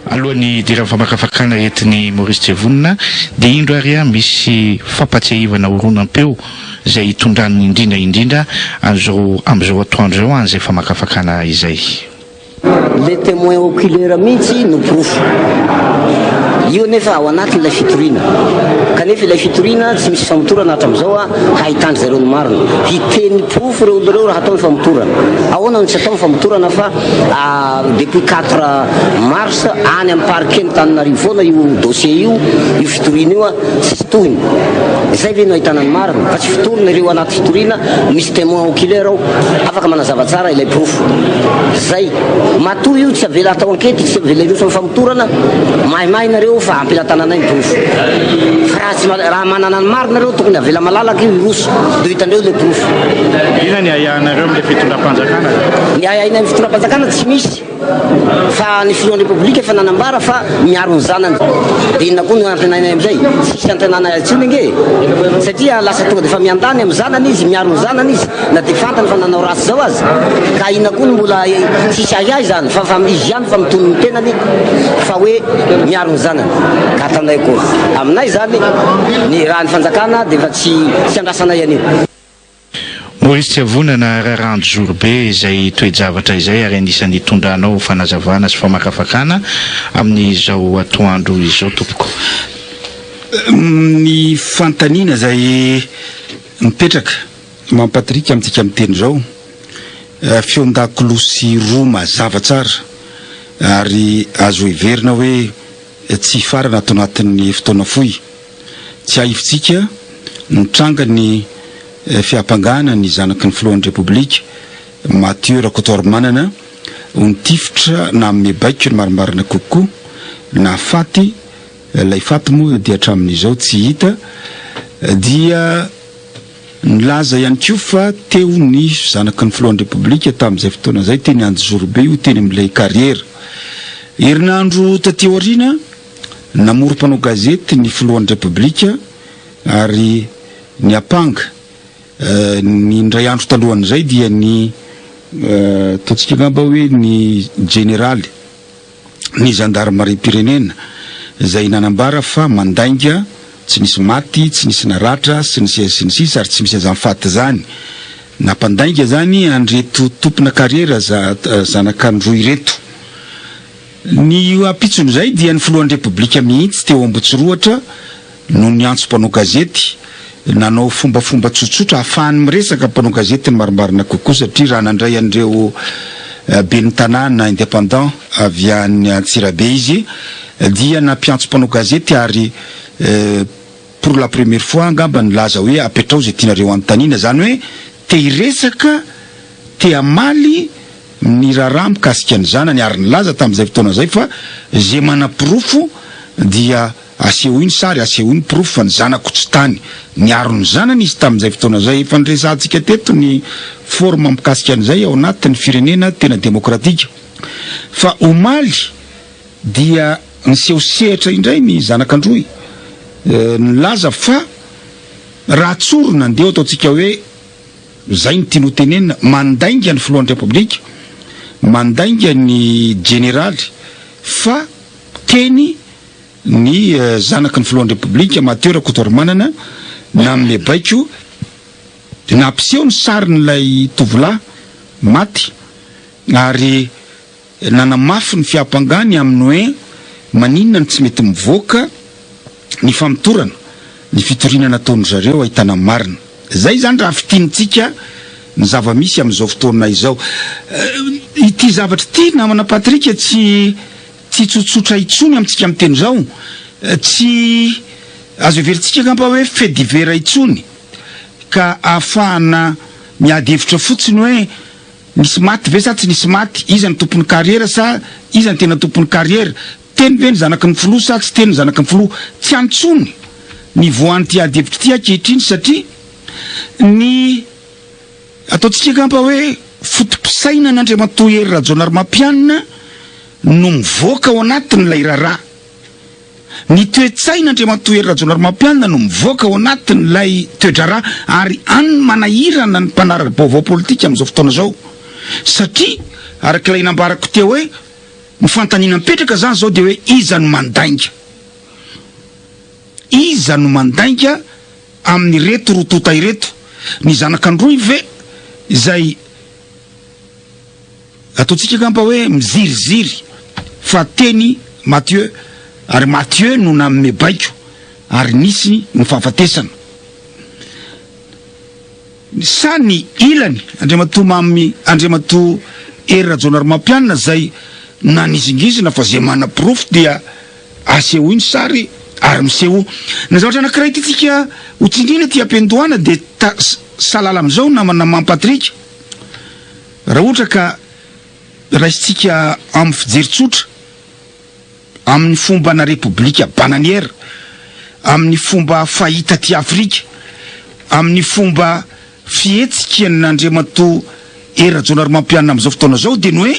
Alohan'ny hidiran'ny famakafakana entin'i Maurice Jevonina dia indro ary misy fampatsiahivana horonam-peo izay hitondrany indrindra indrindra an'izao amin'izao atoandro izao an'izay famakafakana izay. Le temoin oculaire mihitsy no porofo. Io anefa ao anatin'ilay fitoriana. Kanefa ilay fitoriana tsy misy famotorana hatramin'izao a, hahitandry zareo ny marina. Hiteny porofo ireo olona ireo raha atao ny famotorana. Ahoana no tsy atao ny famotorana fa depuis quatre mars any amin'ny parquet ny Tananarivo foana io dossier io, io fitoriana io a. Fitohiny. Izay ve no ahitana ny marina fa tsy fitorina ireo anaty fitoriana misy temoin oculaire ao afaka manazava tsara ilay porofo. Zay. Matoa io tsy avela atao ankety tsy avela hiroso amin'ny famotorana, maimay nareo fa ampelatananay ny porofo. Fa raha tsy raha manana ny marina nareo tokony avela malalaka io hiroso de hitandreo ilay porofo. Inona ny ahiahinareo amin'ilay fitondram-panjakana? Ny ahiahinay amin'ny fitondram-panjakana tsy misy. Fa ny filohan'ny Repoblika efa nanambara fa miaro ny zanany. Dia inona koa no antenainay amin'izay? Tsisy antenaina intsony ange e! Satria lasa tonga dia efa miandany amin'ny zanany izy, miaro ny zanany izy na dia fantany fa nanao ratsy izao aza. Ka inona koa no mbola tsisy ahiahy izany fa fa izy ihany fa mitony ny tenany fa hoe miaro ny zanany. Ka ataonay akory? Aminay izany ny raha ny fanjakana dia efa tsy tsy andrasanay an'io. Maurice Tsiavonana, Rarandro Zorobe izay toe-javatra izay ary anisan'ny itondranao fanazavana sy famakafakana amin'izao atoandro izao tompoko. Ny fanontaniana izay mipetraka mampatirika amintsika amin'ny teny izao, feon-dakolosy roa mazava tsara ary azo heverina hoe tsy hifarana ato anatin'ny fotoana fohy. Tsiahivitsika ny trangan'ny fiampangana ny zanaky ny filohan'ny Repoblika, Mathieu Rakotoarimanana, ho nitifitra nanome baiko ny marimarina kokoa na faty, ilay faty moa dia hatramin'izao tsy hita, dia nilaza ihany koa fa teo ny zanaky ny filohan'ny Repoblika tamin'izay fotoana izay teny Anjozorobe io teny amin'ilay kariera. Herinandro taty aoriana Namory mpanao gazety ny filohan'ny Repoblika ary niampanga. Ny indray andro talohan'izay dia ny, ataontsika angamba hoe ny jeneraly ny zandarimariam-pirenena izay nanambara fa mandainga, tsy nisy maty, tsy nisy naratra sy ny sisa sy ny sisa ary tsy misy aza mifaty izany. Nampandainga izany an'ireto tompona karera zanak'Androy ireto. Ny ampitson'izay dia ny filohan'ny Repoblika mihitsy teo Ambotsirohatra no niantso mpanao gazety nanao fombafomba tsotsotra hahafahany miresaka mpanao gazety ny marimarina kokoa satria raha nandray an'ireo ben'ny tanàna independant avy any Antsirabe izy dia nampiantso mpanao gazety ary pour la première fois angamba nilaza hoe apetrao izay tianareo hanontaniana izany hoe te hiresaka Te hamaly ny raharaha mikasika ny zanany ary nilaza tamin'izay fotoana izay fa izay manaporofo dia asehoy ny sary, asehoy ny porofo fa ny zanako tsy tany. Niaro ny zanany izy tamin'izay fotoana izay. Efa niresahantsika teto ny forme mikasika an'izay ao anatin'ny firenena tena demokratika. Fa omaly dia niseho sehatra indray ny zanak'Androy nilaza fa raha tsorina, ndeha ho ataontsika hoe, Izay no tiany hotenenina. Mandainga ny filohan'ny Repoblika, mandainga ny jeneraly fa teny ny zanaky ny filohan'ny Repoblika, Mateo Rakotoarimanana nanome baiko nampiseho ny sarin'ilay tovolahy maty ary Nanamafy ny fiampangany aminy hoe maninona no tsy mety mivoaka ny famotorana ny fitoriana nataon-dry zareo ahitana marina. Izay izany raha fintinitsika ny zava-misy amin'izao fotoana izao. Ity zavatra ity namana Patrick tsy tsy tsotsotra intsony amintsika miteny izao. Tsy azo heverintsika angamba hoe fait divers intsony ka ahafahana miady hevitra fotsiny hoe. Nisy maty ve sa tsy nisy maty? Iza no tompon'ny kariera sa iza no tena tompon'ny kariera? Teny ve ny zanaky ny filoha sa tsy teny ny zanaky ny filoha? Tsy any intsony ny voan'ity adihevitra ity ankehitriny satria ny ataontsika angamba hoe foto-pisainan'Andriamatoa Hery Rajaonarimampianina no mivoaka ao anatin'ilay raharaha. Ny toe-tsaina Andriamatoa Hery Rajaonarimampianina no mivoaka ao anatin'ilay toe-draharaha ary an'ny manahirana ny mpanara-baovao politika amin'izao fotoana izao satria araka ilay nambarako teo hoe ny fanontaniana mipetraka izany izao dia hoe iza no mandainga? Iza no mandainga amin'ireto roa tonta ireto? Ny zanak'Androy ve izay Ataontsika angamba hoe miziriziry fa teny Mathieu ary Mathieu no nanome baiko ary nisy ny fahafatesana. Sa ny ilany, Andriamatoa Mamy Andriamatoa Hery Rajaonarimampianina izay nanizingizina fa izay manaporofo dia asehoy ny sary ary misehoa. Ny zavatra anankiray tiantsika ho tsindriana aty am-piandohana dia ta-salala amin'izao namana Mamy Patrick, Raha ohatra ka raisintsika amin'ny fijery tsotra, amin'ny fombana repoblika bananiera, amin'ny fomba fahita aty Afrika, amin'ny fomba fihetsikin'Andriamatoa Hery Rajaonarimampianina amin'izao fotoana izao dia ny hoe,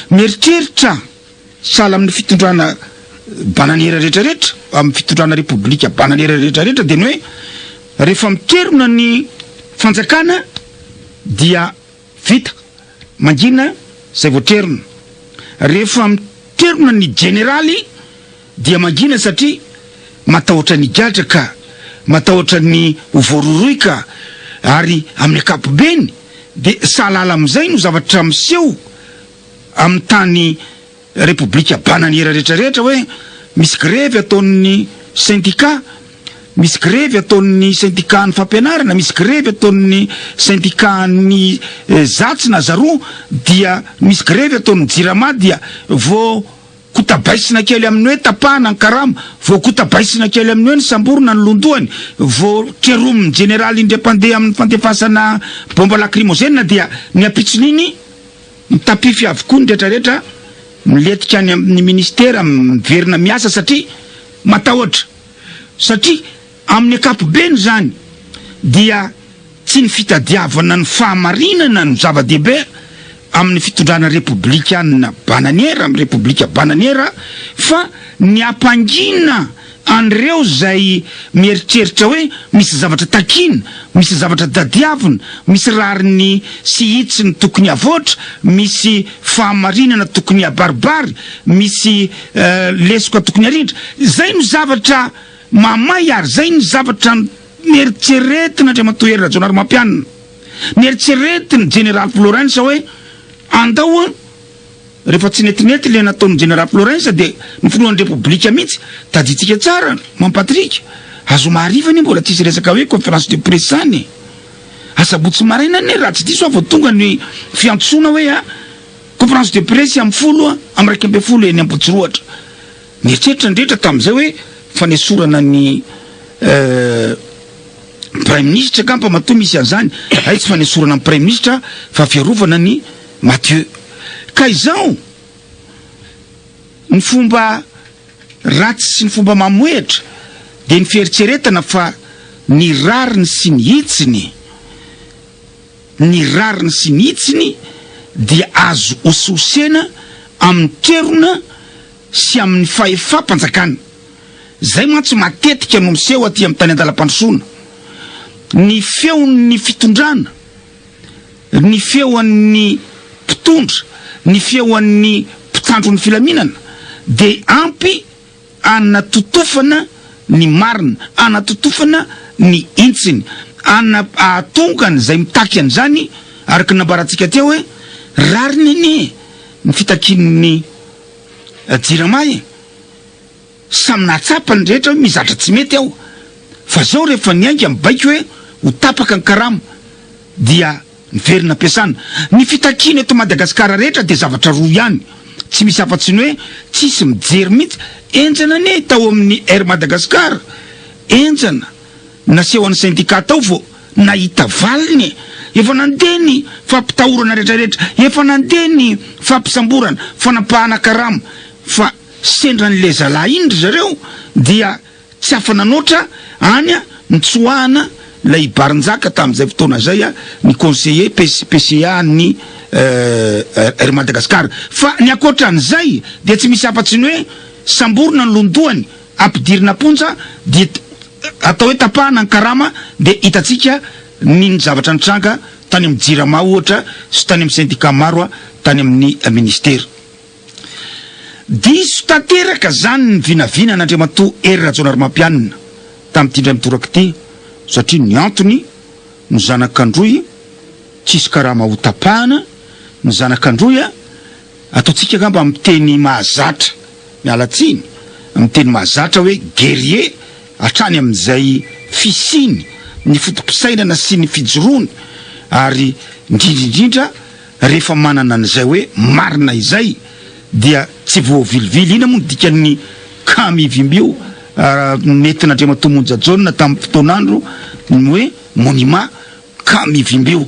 mieritreritra, Sahala amin'ny fitondrana bananiera rehetra rehetra, amin'ny fitondrana repoblika bananiera rehetra rehetra dia ny hoe rehefa miterona ny fanjakana dia vita, mangina izay voatrerona. Rehefa miterona ny jeneraly dia mangina satria matahotra ny higadra ka, matahotra ny ho voarohirohy ka, ary amin'ny ankapobeny dia sahalala amin'izay no zavatra miseho. amin'ny tany Repoblika Bananiera rehetra rehetra hoe misy grevy ataon'ny sendikà, misy grevy ataon'ny sendikàn'ny fampianarana, misy grevy ataon'ny sendikàn'ny zatsy na zaroa dia misy grevy ataon'ny jirama dia vao kotabaisina kely amin'ny hoe tapahana ny karama, vao kotabaisina kely amin'ny hoe nisamborina ny londohany, vao keromin'ny jeneraly indray mpandeha amin'ny fandefasana bomba lakrimozena dia ny ampitson'iny Mitapify avokoa ny retraretra miletika any amin ny ministera miverina miasa satria matahotra satria amin ny ankapobeny izany dia tsy ny fitadiavana ny fahamarinana no zava-dehibe amin ny fitondrana repoblikanina bananiera am repoblika bananiera fa ny hampangina An'ireo izay mieritreritra hoe misy zavatra takiana, misy zavatra tadiavina, misy rariny sy hitsiny tokony havoatra, misy fahamarinana tokony habaribary, misy lesoka tokony harindra. Izay no zavatra mahamay ary izay no zavatra neritreretin'Andriamatoa Hery Rajaonarimampianina. Neritreretin'i Jeneraly Florence hoe andao Rehefa tsy netinety le nataon'i Jenera Florensa de ny filohan'ny Repoblika mihitsy tadintsika tsara Mam Patrick a zoma hariva anie mbola tsisy resaka hoe conférence de presse any e! Asabotsy maraina anie raha tsy diso aho vao tonga ny fiantsoana hoe a conférence de presse am folo am raika ambin'ny folo eny Ambohitsirohatra! Nieritreritra ny rehetra tamin'izay hoe fanesorana ny Praiminisitra angamba matoa misy an'izany hay tsy fanesorana ny Praiminisitra fa fiarovana ny Mathieu, Ka izao ny fomba ratsy sy ny fomba mamohehitra dia ny fieritreretana fa ny rariny sy ny hitsiny, ny rariny sy ny hitsiny dia azo hosihosena amin'ny toerona sy amin'ny fahefam-panjakana. Izay mantsy matetika no miseho aty amin'ny tany an-dalam-pandrosoana. Ny feon'ny fitondrana. ny feon'ny mpitondra, ny feon'ny mpitandro ny filaminana dia ampy anatotofana ny marina, anatotofana ny hintsiny, ana ahatonga an'izay mitaky an'izany, araka ny nambarantsika teo hoe, rariny anie ny fitakian'ny Jirama e! Samy nahatsapa ny rehetra hoe misy zatra tsy mety ao fa zao rehefa niainga ny baiko hoe ho tapaka ny karama dia niverina am-piasana. Ny fitakiana eto Madagasikara rehetra dia zavatra roa ihany, tsy misy afa-tsy ny hoe tsisy mijery mihitsy. Henjana anie tao amin'ny Air Madagascar, henjana nasehon'ny syndicat tao vao nahita valiny e! Efa nandeha ny fampitahorana rehetra rehetra, efa nandeha ny fampisamborana, fanapahana karama fa. Sendra ny lezalahy iny ry zareo dia tsy afa-nanoatra any nitsoahana ilay barinjaka tamin'izay fotoana izay ny conseiller pes PCA an'ny Air Madagascar. Fa ny ankoatra an'izay dia tsy misy afa-tsy ny hoe samborina ny lohandohany, ampidirina am-ponja dia atao hoe tapahana ny karama dia hitantsika ny ny zavatra nitranga tany amin'ny Jirama ohatra sy tany amin'ny syndicat maro tany amin'ny Ministera. Diso tanteraka izany ny vinavinan' Andriamatoa Hery Rajaonarimampianina tamin'ity indray mitoraka ity satria ny antony, ny zanak' Androy tsisy karama hotapahana, ny zanak' Androy a! ataontsika angamba amin'ny teny mahazatra, miala tsiny, amin'ny teny mahazatra hoe guerrier hatrany amin'izay fisiany, ny foto-pisainana sy ny fijoroany ary indrindra indrindra, rehefa manana an'izay hoe marina izay dia tsy voavilivily. Inona moa no dikan'ny cas Mivimbio nentin'Andriamatoa Monja Jaona tamin'ny fotoan'andro ny hoe monument cas Mivimbio?